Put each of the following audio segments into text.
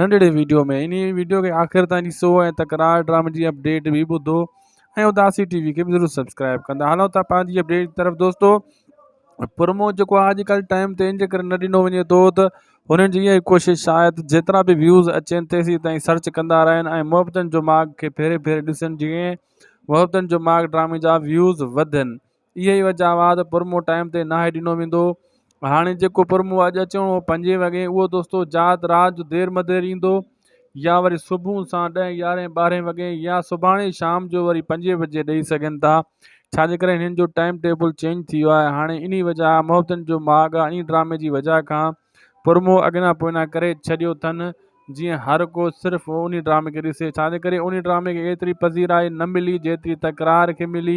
ننڍڙي ويڊيو ۾ انهي ويڊيو کي آخر تائين ڏسو ۽ تڪرار ڊرامي جي اپڊيٽ به ٻڌو ۽ اداسي ٽي وي کي به ضرور سبسڪرائب ڪندا هلون ٿا پنهنجي اپڊيٽ جي طرف دوستو پرمو جيڪو آج ڪل ٽائم تي ان جي ڪري نه ڏنو وڃي ٿو ته هنن جي اها ڪوشش شايد جيترا به ويوز اچن تيسي تائين سرچ ڪندا رهن ۽ محبتن جو ماڳ کي ڦيري ڦيري ڏسن جيئن محبتن جو ماڳ ڊرامي جا ويوز وڌن اهي ئي وجهه هئا ته پرمو ٽائيم تي ناهي ڏنو ويندو هو هاڻي جيڪو پرمو اڄ اچڻو هو پنجين وڳي اهو دوستو جات رات جو دير مدير ايندو يا وري صبح سان ڏهين يارهين ٻارهين وڳي يا سڀاڻي شام جو وري پنجين بجي ڏئي سگهن ٿا ڇا جي ڪري هنن جو ٽائيم ٽيبل چينج ٿي ويو آهي هاڻي انهي وجهه محبتن جو ماڳ آهي انهي ڊرامي جي وجهه کان پرموهه اڳينا پوئنا ڪري ڇڏيو ٿن جيئن هر ڪو صرف انهي ڊرامي کي ڏسي ڇا جي ڪري انهي ڊرامي کي ايتري پذيرائي نه ملي جيتري تڪرار کي ملي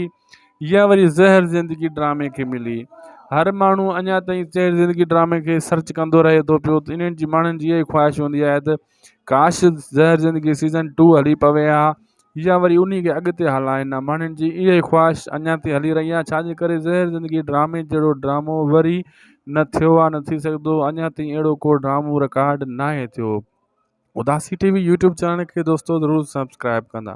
يا وري زهر زندگي ڊرامي کي ملي هر ماڻهو اڃا تائين زهر زندگي ڊرامي کي سرچ ڪندو رهي ٿو پيو انهن جي ماڻهن جي اهي خواهش هوندي آهي ته ڪاش زهر زندگي سيزن ٽو هلي پوي ها يا وري انهي کي اڳتي هلائين ها ماڻهن جي اها ئي خواهش اڃان تائين هلي رهي آهي ڇا جي ڪري زهر زندگي ڊرامي جهڙو ڊرامو وري نه ٿيو آهي نه ٿي سگهندو اڃان تائين اهڙو ڪو ڊرامو رڪارڊ ناهي ٿيو اداسي ٽي وي يوٽيوب چينل کي دوستو ضرور سبسڪرائب ڪندا